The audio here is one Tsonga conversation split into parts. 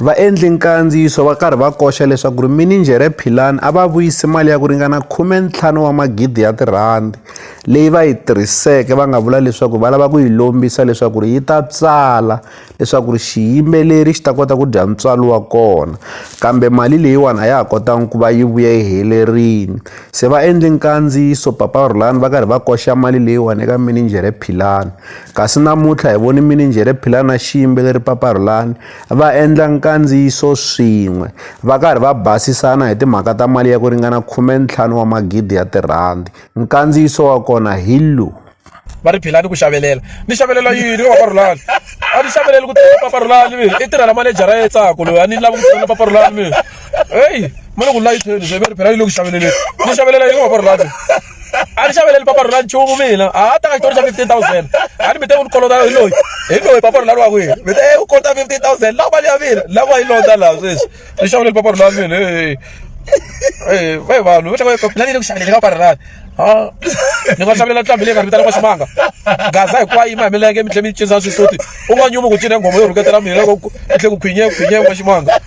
Vaendli-nkandziyiso va karhi va koxa leswaku minijhere Philani a va vuyise mali ya ku ringana khume-ntlhanu wa magidi ya tirhandi leyi va yi tirhiseke va nga vula leswaku va lava ku yi lombisa leswaku yi ta tsala leswaku xiyimbeleri xi ta kota ku dya ntswalo wa kona kambe mali leyiwani a ya ha kotanga ku va yi vuye yi helerile se vaendli-nkandziyiso Papa Rhulani va karhi va koxa mali leyiwani eka minijhere Philani. Kasi namuntlha hi voni mininjhere Phila na Ximbe leri Paparhulani va endla nkandziyiso swin'we va karhi va basisana hi timhaka ta mali ya ku ringana khume-ntlhanu wa magidi ya tirhandi. Nkandziyiso wa kona hi lowu. va ri philani ku xavelela ni xavelela yini ka paparhulani a ni xaveleli ku tirhela paparhulani mi i tirhela manejara ya tsako loyi a ni lava ku tirhela paparhulani mi heyi ma loko layitheni se va ri phela yi le ku xaveleleni ni xavelela yini ka paparhulani a ni xaveleli papa rona nchumu mina a ta ka xitori xa fifteen thousand a ni mi te u ni kolota hi loyi hi loyi papa rona wa kwihi mi te u kolota fifteen thousand lawa mali ya mina lawa yi lota laha sweswi ni xaveleli papa rona wa mina vai vanhu va tlanga na ni le ku xaveleni ka papa rona ni nga xavelela ntlhambi leyi nga ri vitana ka ximanga gaza hinkwayo yima hi milenge mi tlhe mi cinisa xisuti u nga nyumi ku cina nghoma yo rhuketela mina loko ku tlhe ku khwinye khwinye wa ximanga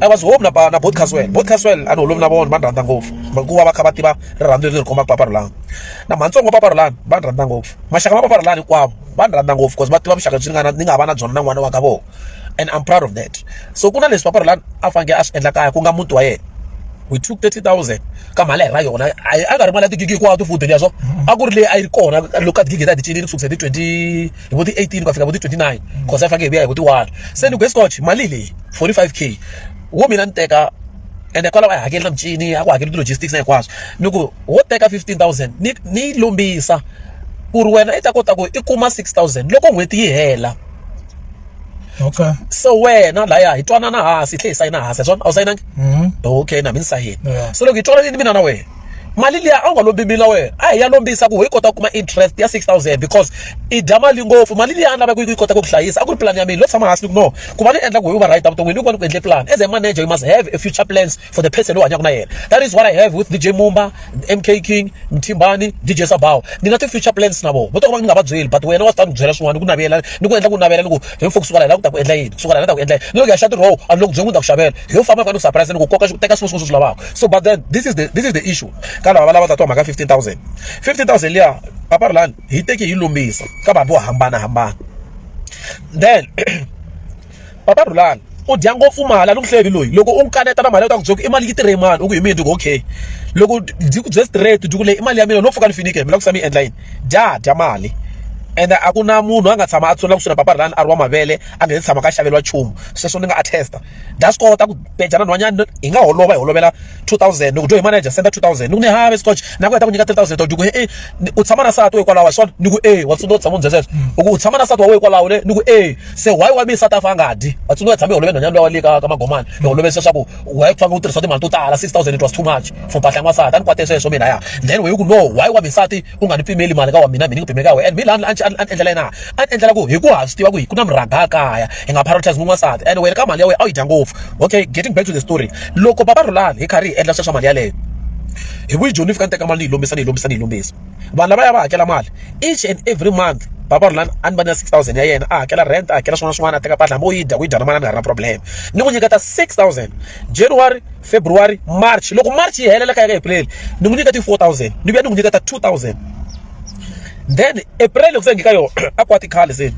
a va zihumi na na bot caswell bot caswell a ni holovi na vona va ni rhandza ngopfu hikuva va kha va tiva rirhandzu leri ri khomaka papa rolani na matsongo papa rolani va ni rhandza ngopfu maxaka ma papa rolani hinkwavo va ni rhandza ngopfu because va tiva vuxaka byi ni nga na ni nga va na byona na n'wana wa ka vona and i'm proud of that so ku na leswi papa rolani a fanekele a swi endla kaya ku nga muti wa yena we took 30000 ka mali ra yona a nga ri mali ya tigigi hinkwato futhi leswo a ku ri leyi a yi ri kona loko ka tigigi ta ti cinile ku sukisa hi ti 20 hi vo ti-18 ku ya fika vo ti-29 cause a faneke hi vuya hi vo ti-one se ni ku escotch mali leyi 45 k wo mina ni teka ende kwalaho a hi hakeli na michini a ku hakeli ti-logistics na hinkwaswo ni ku wo teka 15000 ni ni yi lombisa ku ri wena i ta kota ku i kuma 6000 loko n'hweti yi hela okay so wena laya hi twanana hansi hi tlhe hi sayina hansi ya swona a wu sayinangi okay na mi ni sayini so loko hi twananile mina na wena mali liya a wu nga lombi mina wena a hi ya lombisa ku hi kota ku kuma interest ya 6000 because i dya mali ngopfu mali liya a ni lavaka ku yi kota ku ku hlayisa a ku ri plan ya mina lo tshama hansi ni ku no ku va ni endla ku hi va right evuton'wini ni ku va ni ku endle plan as a manager you must have a future plans for the person lowu hanyaka na yena that is what i have with dj mumba mk king mthimbani dj sabaw ni na ti-future plans na vona vo to va ni nga va byeli but wena wa swi ta ni byela swin'wana ni ku navela ni ku endla ku navela ni ku hi mfuku kusuka la hi lava ku ta ku endla yini kusuka la hi lava ta ku endla yini ni loko ya xa tiroho a ni loko byeli ku ni ta ku xavela yo famba fana u surprise loko koka teka swin'we swin'we swi lavaka so but then this is the this is the issue ka lava va lava tatiwa mhaka 15000 15000 liya papa ri lani hi teki hi lombisa ka vanhu vo hambanahambana then papa rhulani u dya ngopfu mali a ni ku hlevi loyi loko u n'wi kaneta na mali u ta ku byela ku i mali yi tirhe mani u ku hi mina ku okay loko ndzi ku bye straight ndzi ku leyi i mali ya mina no pfuka ni finike mi la ku sa mi endla yini dya dya mali ende a ku na munhu a nga tshama a tsula kusuhi na papa rhulani a ri wa mavele a nga se tshama ka xaveriwa nchumu sweswo ni nga attesta nda zwi kota ku peja na nhwanyana hi nga holova hi holovela 2000 ni ku dyo hi manager senda 2000 ni ku ni have scotch na ku heta ku nyika 3000 to ku e u tshama na sati wa hikwalaho hi swona ni ku e wa tsundzuka tshama ndzi sweswo u ku u tshama na sati wa we hikwalaho le ni ku e se why wa mi sati afa nga dyi wa tsundzuka tshama hi holove nhwanyana lowa le ka ka magomani hi holove sweswaku wa yi fanga u tirhisa timali to tala 6000 it was too much for mpahla ya n'wansati a ni kwate sweswo mina ya then we ku no why wa mi sati u nga ni pimeli mali ka wa mina mina ni ku pimeli ka wena and mi lani a ni endlela yena a ni endlela ku hi ku ha swi tiva ku hi ku na murhangha kaya hi nga prioritize n'wansati and wena ka mali ya wena a yi dya ngopfu okay getting back to the story loko baba rulani hi karhi hi endla sweswa mali yaleyo hi vuyi joni ni fika ni teka mali ni yi lombisa ni yi lombisa ni yi lombisa vanhu lava ya va hakela mali each and every month baba rulani a ni va na six thousand ya yena a hakela rent a hakela swin'wana swin'wana a teka mpahla hambi u yi dya ku yi dya na mali a ni nga ri na problem ni n'wi nyiketa six thousand january february march loko march yi helela ka ya ka april ni n'wi nyika ti 4000 ni vuya ni n'wi nyika ta 2000 then april loko se ngika yona a kwati khale se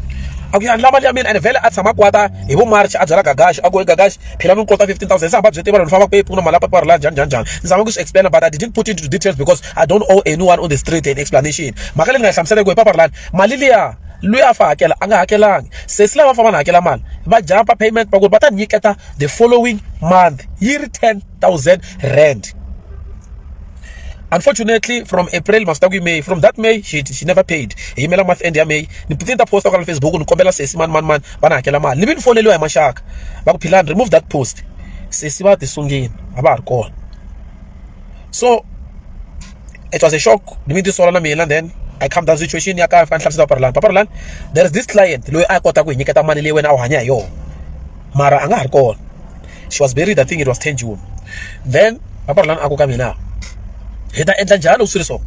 a ku ya ndla mali ya mina and vhele a tshama kwata hi vo march a byela gagaxi a ku gagaxi phela mi kota 15000 se hamba byi tiva loko famba ku pfuna mali ya papa rila njhani njhani njhani ni zama ku swi explain but i didn't put into details because i don't owe anyone on the street an explanation mhaka leyi ni nga yi hlamusela ku hi papa rilani mali liya loyi a fa hakela a nga hakelanga se si lava famba na hakela mali va jampa payment va ku va ta nyiketa the following month yi ri 10000 rand unfortunately from april masita ku may from that may she, she never paid hi yimela month end ya may ni ni ta posta kwala facebook ni kombela sesi mani mani mani va ni hakela mali ni vi ni foneliwa hi maxaka va ku philani remove that post sesi va ti sungini a va ha ri kona so it was a shock ni mi ti sola na mina then I come down situation ya ka fa ni hlamusela papa Rolani papa Rolani there is this client loyi a kota ku hi nyiketa mali leyi wena a wu hanya hi yona mara a nga ha ri kona she was buried I think it was ten June then papa Rhulani a ku ka mina hi ta endla njhani loko swi ri so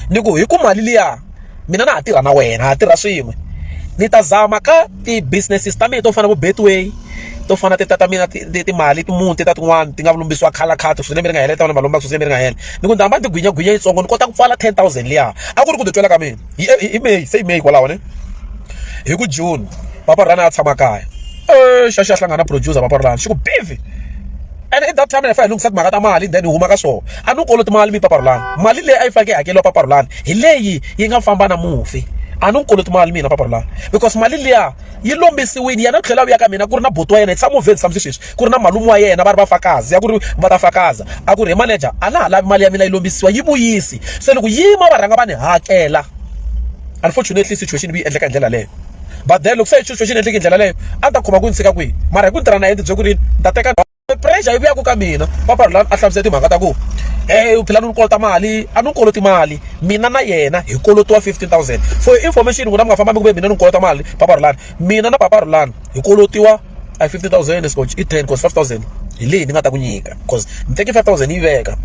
ni ku hi ku mali liya mina na ha tirha na wena ha tirha swin'we ni ta zama ka ti-businesses ta mina to fana na vo Betway to fana ti ta ta mina timali ti muni ti ta tin'wani ti nga lombisiwa color card swi lembe ri nga hela ta vona va lombaka swi lembe ri nga hela ni ku ni ta hamba ni ti gwinye gwinye yitsongo ni kota ku pfala ten thousand liya a ku ri ku titwela ka mina. hi hi may se hi may kwalaho ne hi ku june papa rhana a tshama kaya e xa xa hlangana producer papa rhana xi ku bivi and at that time ni fa hi lunghisa timhaka ta mali then hi huma ka swona a ni koloti mali mi papa rhulana mali leyi a yi faneke yi hakeriwa papa rhulana hi leyi yi nga famba na mufi a ni koloti mali mina papa rhulana because mali liya yi lombisiwini yena tlhela a vuya ka mina ku ri na buti wa yena hi tshama movheni tshama swi sweswi ku ri na malume wa yena va ri vafakazi ya ku ri va ta fakaza a ku ri he manager a na ha lavi mali ya mina yi lombisiwa yi vuyisi se loko yima va rhanga va ni hakela unfortunately situation yi endleka hi ndlela leyo but then loko se situation yi endleke hi ndlela leyo a ni ta khoma ku ni tshika kwihi mara hi ku ni tirha na yena bye ku ri ni ta teka pressure yi vuyaka ka mina papa rula a hlamusela timhaka ta ku um phela ni ni kolota mali a ni ni koloti mali mina na yena hi kolotiwa fifteen thousand for information n'wina mi nga fambambi ku ve mina ni ni kolota mali papa rulani mina na papa rulani hi kolotiwa a hi fifty thousand e scotch i ten coz five thousand hi leyi ni nga ta ku nyika coz ni teki five thousand ni yi veka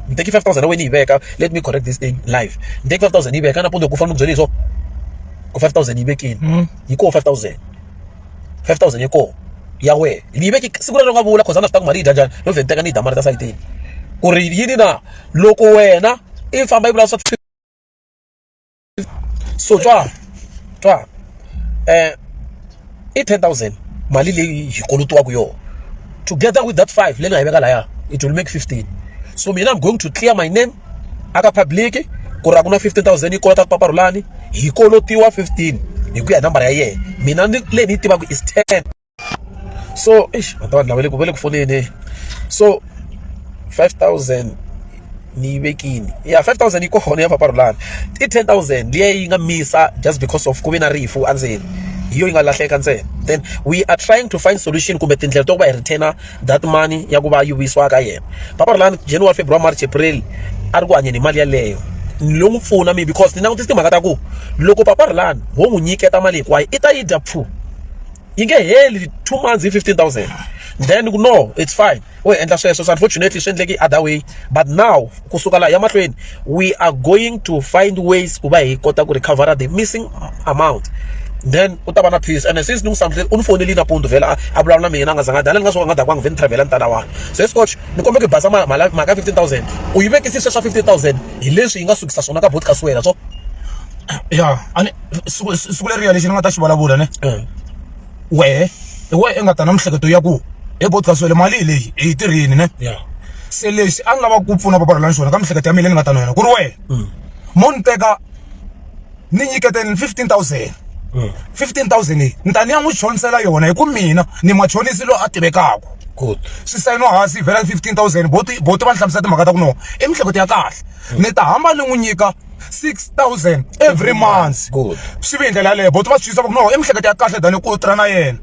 ni teki five thousand ya wena ni yi veka let me correct this thing live ni teki five thousand ni yi veka nampundzu ku fana ni byele hi swona ku five thousand yi vekile yi koho five thousand five thousand yi koho ya wena ni yi veke siku rero nga vula coz a na swi ta ku mali yi dya njhani no vhe ni teka ni yi dya mali ta sayitini ku ri yini na loko wena i famba yi vula swa so twa twa um i ten thousand mali leyi hi kolotiwaka yona together with that five leyi nga yi veka laya it will make fifteen so mina i'm going to clear my name aka public ku ri a ku na fifteen thousand yi kolota papa rhulani hi kolotiwa fifteen hi ku ya hi nambara ya yena mina ni leyi ni yi tivaka is ten so eish vanhu lava va le ku va le ku foneni so five thousand ni yi vekile ya five thousand yi kona ya mpfapfarhuto lani i ten thousand liya yi nga misa just because of ku ve na rifu endzeni hi yona yi nga lahleka ntsena then we are trying to find solution kumbe tindlela to va hi return that money ya ku va yi vuyisiwa ka yena mpfapfarhuto lani January February March April a ri ku hanyeni hi mali yaleyo lo n'wi pfuna mi because ni langutise timhaka ta ku loko papa rilani ho n'wi nyiketa mali hinkwayo i ta yi dya pfu yi nge heli two months hi fifteen thousand then no it's fine u endla sweswo so unfortunately swi endleke other way but now kusuka laha ya mahlweni we are going to find ways ku va hi kota ku recover the missing amount then u ta va na peace and since ni n'wi samutile u ni fonele nampundzu vhela a vulavula na mina a nga zanga dani ni nga swo nga dakwanga vhe ni travela ni tala wani se scotch ni kombe ku basa mhaka fifteen thousand u yi vekisise swa fifteen thousand hi leswi yi nga sukisa swona ka botcas wena so ya a ni siku leriya lexi ni nga ta xi vulavula ne wehe hi wehe i nga ta na miehleketo ya ku he podcast wele mali hi leyi hi yi tirhini ne se lexi a ni lava ku pfuna papa rolani xona ka miehleketo ya mina ni nga ta na yona ku ri wena mm. mo ni teka ni nyiketeni fifteen thousand mm. fifteen thousand leyi ni ta ni ya n'wi chonisela yona hi ku mina ni machonisi loyi a tivekaka good swi sayiniwa hansi yi vhela fifteen thousand boti boti va ni hlamusela timhaka ta ku no i miehleketo ya kahle mm. ni ta hamba ni n'wi nyika 6000 every month Good. swi ve hi ndlela yaleyo boti va swi twisa va ku no i miehleketo ya kahle than ku tirha na yena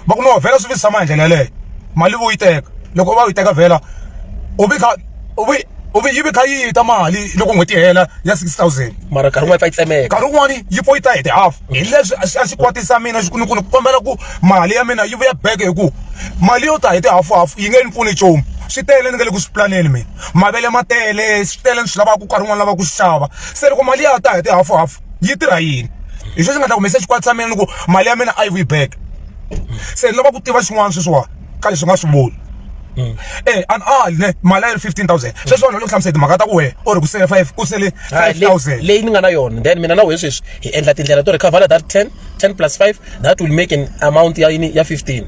va ku no vhela swi visi tshama hi ndlela yaleyo mali vo yi teka loko va yi teka vhela u vi kha u vi u vi yi vi kha yi ta mali loko n'hweti yi hela ya 6000 mara nkarhi wun'wana yi pfa yi tsemeka nkarhi wun'wani yi pfa yi ta hi ti half hi leswi a swi kwatisa mina ni ku ni kombela ku mali ya mina yi vuya back hi ku mali yo ta hi tihafuhafu yi nge ni pfuni nchumu swi tele ni nga le ku swi pulaneni mina mavele ma tele swi tele ni swi lavaka nkarhi wun'wana lava ku swi xava se loko mali ya ta hi tihafuhafu yi tirha yini hi sweswi nga ta humesa xikwati xa mina ni ku mali ya mina a yi vuyi back se ni lava ku tiva xin'wana sweswiwani. ka leswi nga swi voni Mm. eh an all ne mali ya 15000 sweswi vanhu va hlamusela timhaka ta ku wena or ku sele 5 ku sele 5000 leyi ni nga na yona then mina na wena sweswi hi endla tindlela to recover that 10 10 plus 5 that will make an amount ya yini ya 15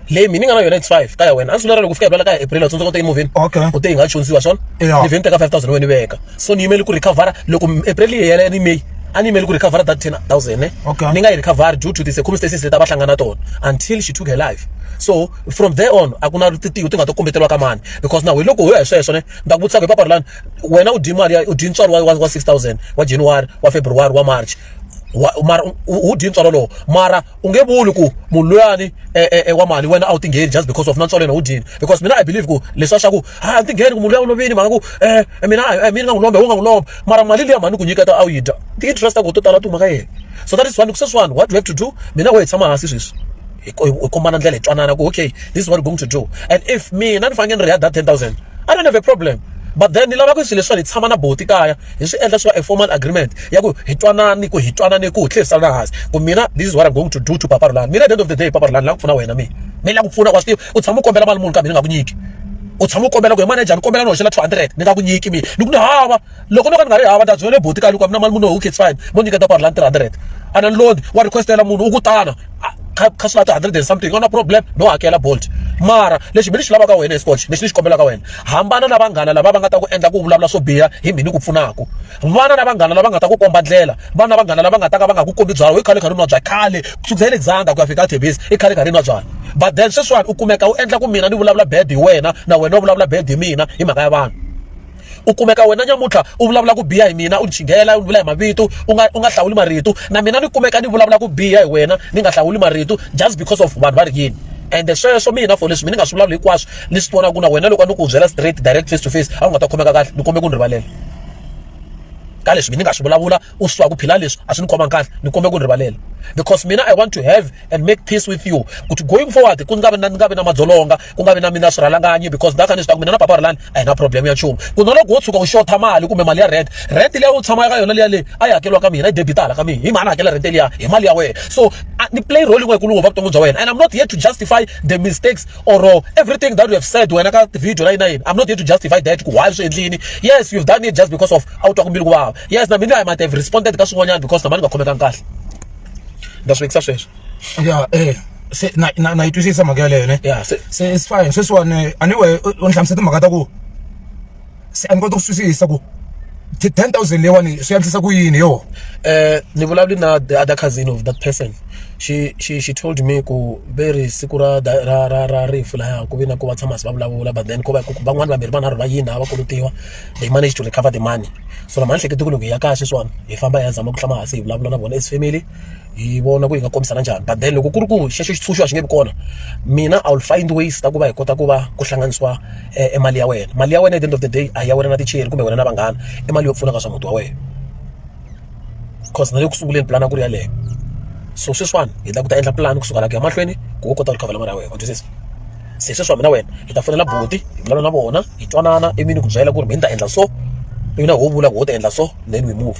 leyi mina ni nga na yona it's 5 ka ya wena a swi lera ku fika hi ka april u tsundzuka u te emovheni okay u te yi nga chonisiwa swona ni vheni teka 5000 wena veka so ni yimele ku recover loko april yi hela ni may a ni yimele ku recover that 10000 ne ni nga yi recover due to the circumstances leti a va hlangana tona until she took her life so from there on a ku na tintiho ti nga ta kombeteliwa ka mani because na wena loko ho ya hi sweswo ne ni ta ku vutisa ku hi papalani wena u dye mali ya u dye ntswalo wa wa six thousand wa January wa February wa March wa mara u dye ntswalo lowu mara u nge vuli ku munhu luyani e, e, e, wa mali wena a wu tingheni just because of na ntswalo yena wu dyini because mina i believe ku leswi swa ku a ah, ni tingheni ku munhu luya u lovini mhaka ku um mina mina nga n'wi lomba wo nga n'wi lomba mara mali liya mhani ku nyiketa a wu yi dya ti-interest ku to tala tuma ka yena so that is one sweswiwani what do you have to do mina wo hi tshama hansi sweswi hi ku hi kombana ndlela hi twanana ku okay this is what we're going to do and if mina ni fanekele ni ri ya that ten thousand I don't have a problem but then ni lava ku swilo leswiwani hi tshama na buti kaya hi swi endla swi va a formal agreement ya ku hi twanani ku hi twanani ku hi tlherisana hansi ku mina this is what I'm going to do to papa Rulani mina at the end of the day papa Rulani la ku pfuna wena mina mi la ku pfuna wa swi tiva u tshama u kombela mali muni kambe ni nga ku nyiki u tshama u kombela ku hi manager ni kombela ni hoxela two hundred ni nga ku nyiki mina ni ku ni hava loko no ka ni nga ri hava ta byele boti ka loko mina mali munhu okay it's fine mo nyiketa ku rhandi 300 ana ni lodi wa requestela munhu u ku tana kha swi lata 100 and something ona problem no hakela bolt mara lexi mi ni xi lavaka wena escotch lexi ni xi kombelaka wena hambana na vanghana lava va nga ta ku endla ku vulavula swo biha hi mhini ku pfunaka vana na vanghana lava nga ta ku komba ndlela vana na vanghana lava nga ta ka va nga ku kombi byalwa i khale khari nwa bya khale kusukisa hi le dzanga ku ya fika tebisi i khale khari nwa byalwa but then sweswiwani u kumeka u endla ku mina ni vulavula bad hi wena na wena u vulavula bad hi mina hi mhaka ya vanhu u kumeka wena nyamuntlha u vulavula ku biha hi mina u ni chinghela u ni vula hi mavito u nga u nga hlawuli marito na mina ni kumeka ni vulavula ku biha hi wena ni nga hlawuli marito just because of vanhu va ri yini ende sweswo mina for leswi mi ni nga swi vulavuli hinkwaswo ni swi vona ku na wena loko a ni ku byela straight direct face to face a wu nga ta khomeka kahle ni kombe ku ni rivalela ka leswi mi ni nga swi vulavula u swi tiva ku phila leswi a swi ni khomangi kahle ni kombela ku ni rivalela because mina i want to have and make peace with you kuti going forward ku nga vi na ni nga vi na madzolonga ku nga vi na mina swirhalanganyi because ndaka ni swi tiva ku mina na papa rilani a hi na problem ya nchumu ku na loko wo tshuka u xotha mali kumbe mali ya rent rent leyi u tshama ka yona liya leyi a yi hakeriwa ka mina yi debitala ka mina hi mhani hakela rent liya hi mali ya wena so ni play role yin'we yikulu ngopfu vuton'wini bya wena and i'm not here to justify the mistakes or uh, everything that you have said wena ka video la yini na yini i'm not here to justify that ku why swi endlini yes you've done it just because of a wu twa ku mbilu ku vava yes na mina i might have responded ka swin'wanyana because na mani nga khomekangi kahle ndza swi vekisa sweswo ya eh se na na na yi twisisa mhaka yaleyo ne ya se se it's fine sweswiwani anyway u u ni hlamusela timhaka ta ku se a ni kota ku twisisa ku ti- 10000 leyiwani swi antswisa ku yini yo eh ni vulavuli na the other cousin of that person she she she told me ku ve ri siku ra da- ra ra ra rifu laya ku vi na ku va tshama si va vulavula but then ko va ku van'wani vambirhi vanharhu va yini a va kolutiwa they managed to recover the money so lama ni hlekete ku loko hi ya kaya sweswiwani hi famba hi ya zama ku tshama hansi hi vulavula na vona as family hi vona ku hi nga kombisana njhani but then loko ku ri ku xexo xitshunxo a xi nge vi kona mina i will find ways ta ku va hi kota ku va ku hlanganisiwa e mali ya wena mali ya wena at the end of the day a hi ya wena na ticheri kumbe wena na vanghana i mali yo pfuna ka swa muti wa wena coz na le ku sunguleni pulani a ku ri yeleyo. So sweswiwani hi lava ku ta endla pulani kusuka laha ku ya mahlweni ku u kota ku recover-a mali ya wena wa twisisa. Se sweswiwani mina na wena hi ta fonela buti hi vulavula na vona hi twanana ivi ni ku byela ku ri mehe ni ta endla so, ivi na wena u vula ku wena u ta endla so then we move.